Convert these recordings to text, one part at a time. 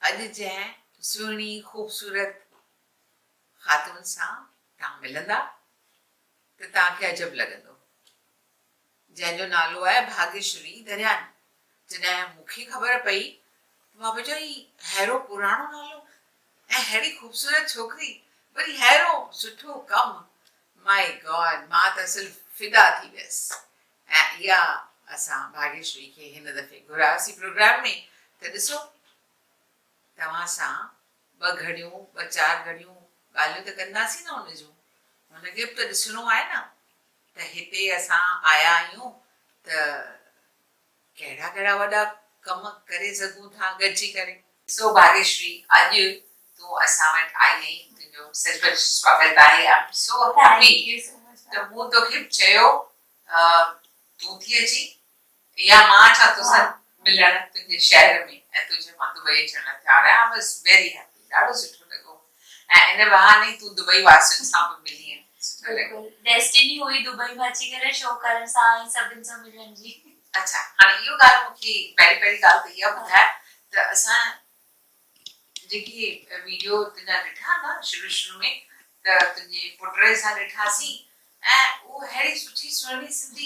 اڄ جنهن سهڻي خوبصورت خاتون سان توهان ملندا ته توهان کي عجب لڳندو جنهن جو نالو آهي ڀاگيشوري دريان جڏهن مون کي خبر پئي ته مان پئي چوان هي ههڙو پراڻو نالو اهڙي خوبصورت ڇوڪري وري ههرو سٺو ڪم مائي گاڊ مان ته اصل فدا ٿي ويس ۽ اها اسان ڀاگيشري کي هن دفعي گهرايوسين پروگرام ۾ ته ڏسو توهان سان ٻه گهڙيون ٻه چار گهڙيون ڳالهيون ته ڪنداسين نه ان جون هن کي به ته ڏسڻو آهي نه ته هتي اسان آيا آهيون ته ڪهڙا ڪهڙا وڏا ڪم ڪري سگهون ٿا گڏجي ڪري. سو ڀاگيشري اڄ تون اسان وٽ آئي آهين تنهنجو سچ پچ سواگت آهي آئي ايم سو هيپي ته مون توکي چيو تون ٿي اچين يا مان اچان توسان ملڻ تنهنجي شهر ۾ ۽ تنهنجي مان دبئي اچڻ لاء تيار آهيان آئي واز ويري هيپي. ڏاڍو سٺو لڳو ۽ ان بهاني تون دبئي واسين سان به ملين سٺو لڳو. ڊيسٽني هئي دبئي ۾ اچي ڪري شو ڪرڻ سان ۽ سڀن سان ملڻ جي. اڇا هاڻي اهو ڳالهه مون کي پهرين پهرين ڳالهه ته اها ٻڌاء ته اسان جيڪي ويڊيو تنهنجا ڏٺا نه شروع شروع ۾ ته تنهنجي پٽڙي سان ڏٺاسين ۽ اهو ههڙي سٺي سهڻي Sindhi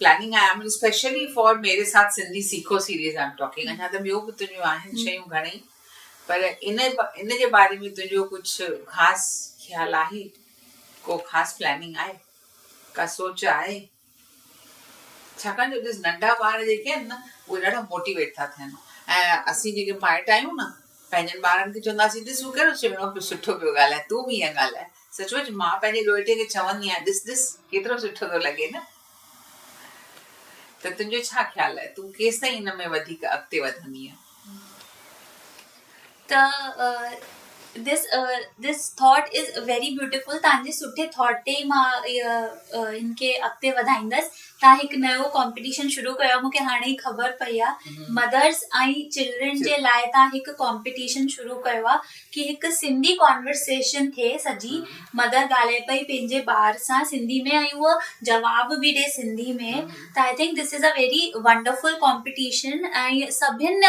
planning I am especially for ميري ساٿ سنڌي سيکو سيريز آئي ايم ٽاڪنگ اڃا ته ٻيو به تنهنجون آهن شيون گهڻئي پر ان ان جي باري ۾ تنهنجو ڪجهه خاص خيال آهي ڪو خاص پلاننگ آهي ڪا سوچ آهي ڇاڪاڻ جو ڏس ننڍا ٻار جيڪي آهن نه اهي ڏاڍا موٽيويٽ ٿا ٿين ۽ اسين جيڪي مائٽ آهيون نه پنهنجن ٻارن کي چونداسين، ڏس هو ڪهڙو سهڻو پيو سٺو پيو ڳالهائي، تون به ائين ڳالهاء. سچ پچ مان پنهنجي ڏوهيٽي کي چوندي آهيان، ڏس ڏس ڪيترو سٺو ٿو لڳي نه. ته تنهنجو ڇا خيال آهي، تون ڪيستائين ان ۾ وڌيڪ اڳتي وڌندينء؟ ته دس دس ٿاٽ از ويري بيوٽيفل تنهنجي سٺي ٿاٽ تي مان هن کي اڳتي وڌائيندس. تان هڪ نيو ڪمپيٽيشن شروع ڪيو مونکي هاڻي ئي خبر پئي آ مدرس ۽ چلڊرن جي لاء تان هڪ ڪمپيٽيشن شروع ڪيو آ ڪي هڪ سنڌي ڪانورسيشن ٿي سڄي مدر ڳالهائي پئي پنهنجي ٻار سان سنڌي ۾ ۽ هو جواب به ڏي سنڌي ۾ ته I think this is a very wonderful competition ۽ سڀن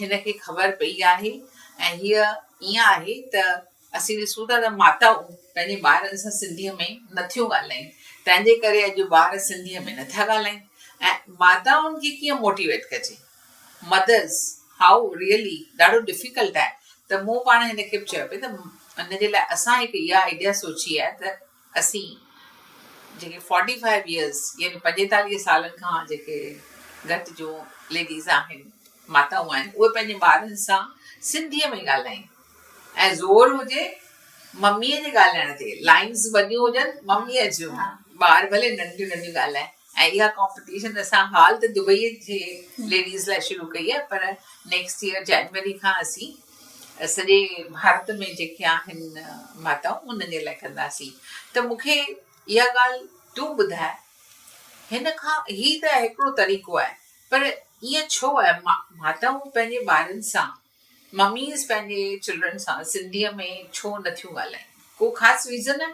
هن کي خبر پئي آهي ۽ هيء ائين آهي ته اسين ڏسون ٿا ته ماتائون پنهنجي ٻارن سان سنڌيء ۾ نٿيون ڳالهائين تنهن جي ڪري اڄ ٻار سنڌيء ۾ نٿا ڳالهائين ۽ ماتائن کي ڪيئن موٽيويٽ ڪجي مدرس هاء ريئلي ڏاڍو ڊفيڪلٽ آهي ته مون پاڻ هن کي به چيو پئي ته ان جي لاء اسان هڪ اها آئيڊيا سوچي آهي ته اسين جيڪي فورٽي فائيو يئرس يعني پنجيتاليهه سالن کان جيڪي گهٽ جو ليڊيز آهن ماتائون آهن اهي پنهنجي ٻارن سان سنڌيء ۾ ڳالهائين ۽ زور هجي مميء جي ڳالهائڻ تي لائنس وڏيون هجن مميء جون ٻار ڀلي ننڍيون ننڍيون ڳالهائين ۽ اها ڪمپٽيشن اسان هال ته دبئي جي ليڊيز لاء شروع ڪئي آهي پر نيڪسٽ ايئر جنوري کان اسين سڄي ڀارت ۾ جيڪي آهن ماتائون انهن جي لاء ڪنداسين ته مون کي اها ڳالهه تون ٻڌاء هن کان هي ته هڪڙو طريقو آهي پر ائين ڇو آهي ماتائون پنهنجي ٻارن سان مميز پنهنجي چلڊرن سان سنڌيء ۾ ڇو نٿيون ڳالهائين؟ ڪو خاص ريزن آهي؟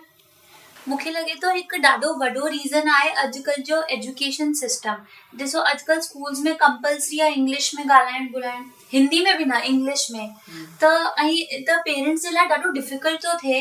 مون کي لڳي ٿو هڪ ڏاڍو وڏو ريزن آهي اڄڪلهه جو ايجوڪيشن سسٽم ڏسو اڄڪلهه اسڪولز ۾ ڪمپلسري آهي انگلش ۾ ڳالهائڻ ٻولهائڻ هندي ۾ به نه انگلش ۾ ته ائين ته پيرنٽس جي لاء ڏاڍو ڊفڪلٽ ٿو ٿئي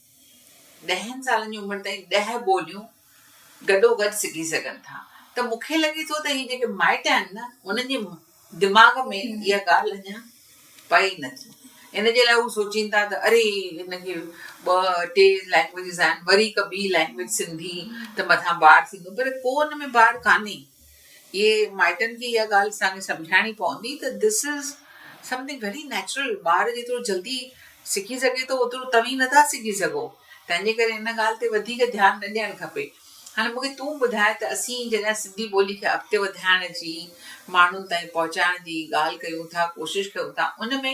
ڏهن سالن جي عمر تائين ڏهه ٻوليون گڏو گڏ سکي سگهن ٿا ته مون کي لڳي ٿو ته هي جيڪي مائٽ آهن نه انهن جي دماغ ۾ اها ڳالهه اڃا پئي ئي نه ٿي ان جي لاء هو سوچين ٿا ته اري هن کي ٻه ٽي لينگويجز آهن وري هڪ ٻي لينگويج سنڌي ته مٿان بار ٿيندو پر ڪو ان ۾ بار ڪانهي اهي مائٽن کي اها ڳالهه اسان کي سمجهائڻي پوندي ته This is Something Very Natural ٻار جيترو جلدي سکي سگهي ٿو اوترو توهين نٿا سکي سگهو تنهنجي ڪري ان ڳالهه تي وڌيڪ ڌيان نه ڏيڻ کپي هاڻي مون کي تون ٻڌاء ته اسين جڏهن سنڌي ٻولي کي اڳتي وڌائڻ جي ماڻهن تائين پهچائڻ جي ڳالهه ڪيون ٿا ڪوشش ڪيون ٿا ان ۾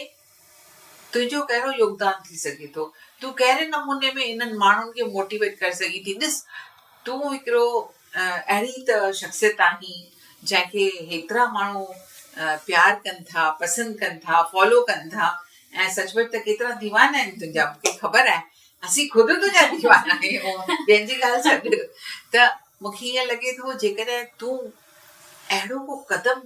تنهنجو ڪهڙو يوگدان ٿي سگهي ٿو تون ڪهڙي نموني ۾ انهن ماڻهن کي موٽيويٽ ڪري سگهين ٿي ڏس تون هڪڙو اهڙي ته شخصيت آهين جنهن کي هيترا ماڻهو پيار ڪن ٿا، پسند ڪن ٿا، فالو ڪن ٿا ۽ سچ پچ ته ڪيترا ديوانا آهن تنهنجا مون کي خبر آهي اسين خود تنهنجا ديوانا آهيون ٻين جي ڳالهه ڇڏ ته مون کي ائين لڳي ٿو جيڪڏهن تون اهڙو ڪو قدم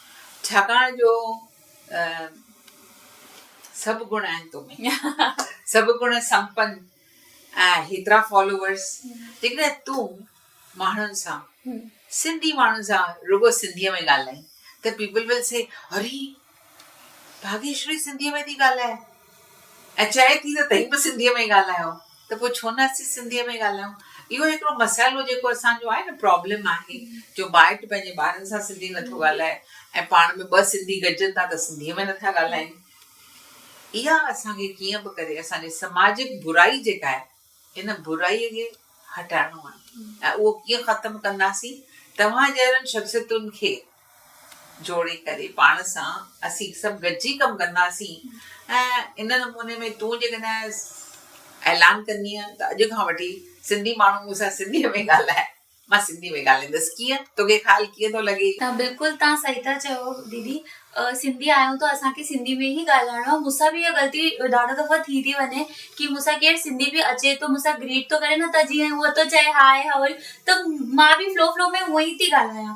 ڇاڪاڻ جو سڀ گڻ آهن تو ۾ سڀ گڻ سمپن ۽ هيترا فالوورس جيڪڏهن تون ماڻهن سان سنڌي ماڻهن سان رڳو سنڌي ۾ ڳالهائين ته پيپل ول سي اري ڀاگيشري سنڌي ۾ ٿي ڳالهائي ۽ چئي ٿي ته تهين به سنڌيء ۾ ڳالهايو ته پوء ڇو نه اسين سنڌيء ۾ ڳالهايون. اهو هڪڙو مسئلو جيڪو اسان جو آهي نه پرابلم آهي جو مائٽ پنهنجي ٻارن سان سنڌي نٿو ڳالهائي ۽ پاڻ ۾ ٻه سنڌي گڏجن ٿا ته سنڌيء ۾ نٿا ڳالهائين. اها اسان کي ڪيئن به ڪري اسان جي سماجڪ برائي جيڪا آهي ان برائي کي هٽائڻو آهي ۽ اهو ڪيئن ختم ڪنداسين؟ توهان جهڙن شخصيتن کي جوڙي ڪري پاڻ سان اسين سڀ گڏجي ڪم ڪنداسين ۽ ان نموني ۾ تون جيڪڏهن اعلان ڪندينء ته اڄ کان وٺي سنڌي ماڻهو مون سان سنڌيء ۾ ڳالهائي. مان سنڌي ۾ ڳالهائيندس ڪيئن توکي خال ڪيئن ٿو لڳي. ته بلڪل تان صحيح ٿا چيو ديدي سنڌي آهيون ته اسان کي سنڌي ۾ ئي ڳالهائڻو آهي مونسان به اها غلطي ڏاڍو دفعو ٿي ٿي وڃي ڪي مونسان ڪير سنڌي به اچي ٿو مونسان گريٽ ٿو ڪري نه ته جيئن هو ٿو چئي هاء هاء ته مان به فلو فلو ۾ هونئن ئي ٿي ڳالهايان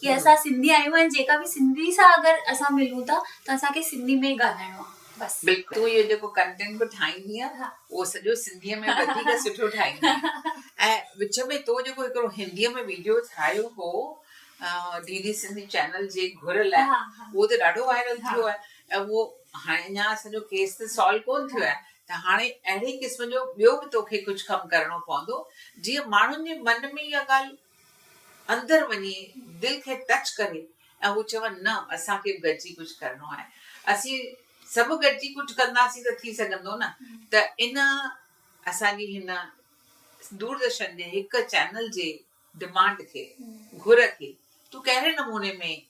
ڪي اسان سنڌي آهيون ۽ جيڪا به سنڌي سان اگر اسان ملون ٿا ته اسان کي سنڌي ۾ ئي ڳالهائڻو آهي بس. بلڪل تون اهو جيڪو ڪنٽينٽ به ٺاهيندينء اهو سڄو سنڌيء ۾ وڌيڪ سٺو ٺاهيندينء ۽ وچ ۾ تو جيڪو هڪڙو هنديء ۾ ويڊيو ٺاهيو هو ڊي ڊي سنڌي چينل جي گهر لاء اهو ته ڏاڍو وائرل ٿيو آهي ۽ اهو هاڻي اڃا اسان جو ڪيس ته سالو ڪون ٿيو آهي ته هاڻي اهڙي قسم جو ٻيو به توکي ڪجهه ڪم ڪرڻو پوندو جيئن ماڻهن جي من ۾ اها ڳالهه اندر وڃي دل کي ٽچ ڪري ۽ هو چون نه اسان کي به گڏجي ڪجهه ڪرڻو آهي اسين سڀ گڏجي ڪجهه ڪنداسين ته ٿي سگهندو نه ته ان اسان جي هن دوردرشن جي هڪ چينل جي ڊمانڊ کي گهر کي تون ڪهڙي نموني ۾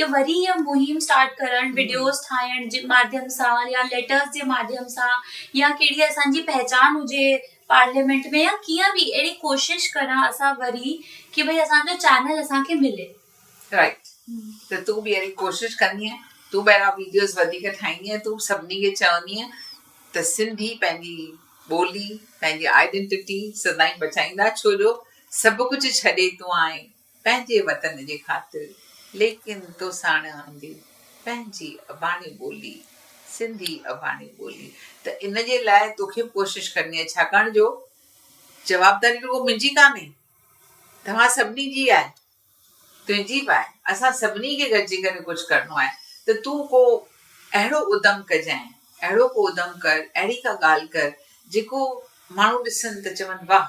يا وري اها مهم اسٽارٽ ڪرڻ وڊيوز ٺاهڻ جي ماڌيم سان يا ليٽرز جي ماڌيم سان يا ڪهڙي اسان جي پهچان هجي پارليامينٽ ۾ يا ڪيئن به اهڙي ڪوشش ڪران اسان وري ڪي ڀئي اسان جو چينل اسان کي ملي رائٽ ته تون به اهڙي ڪوشش ڪندي تون به اهڙا ويڊيوز وڌيڪ ٺاهيندي تون سڀني کي چوندي ته سنڌي پنهنجي ٻولي پنهنجي آئيڊنٽيٽي سدائين بچائيندا ڇو جو سڀ ڪجهه ڇڏي تون آئين پنهنجي وطن جي خاطر ليڪن تو ساڻ آندي پنهنجي اباڻي ٻولي سنڌي اباڻي ٻولي ته ان جي لاء توکي ڪوشش ڪرڻي آهي ڇاڪاڻ جو جوابداري رڳو منهنجي ڪانهي توهان سڀني جي آهي تنهنجي به آهي اسان سڀني کي گڏجي ڪري ڪجهه ڪرڻو آهي ته تون ڪو اهڙو ادم ڪجانء اهڙو ڪو ادم ڪر اهڙي ڪا ڳالهه ڪر جيڪو ماڻهو ڏسن ته چون واهه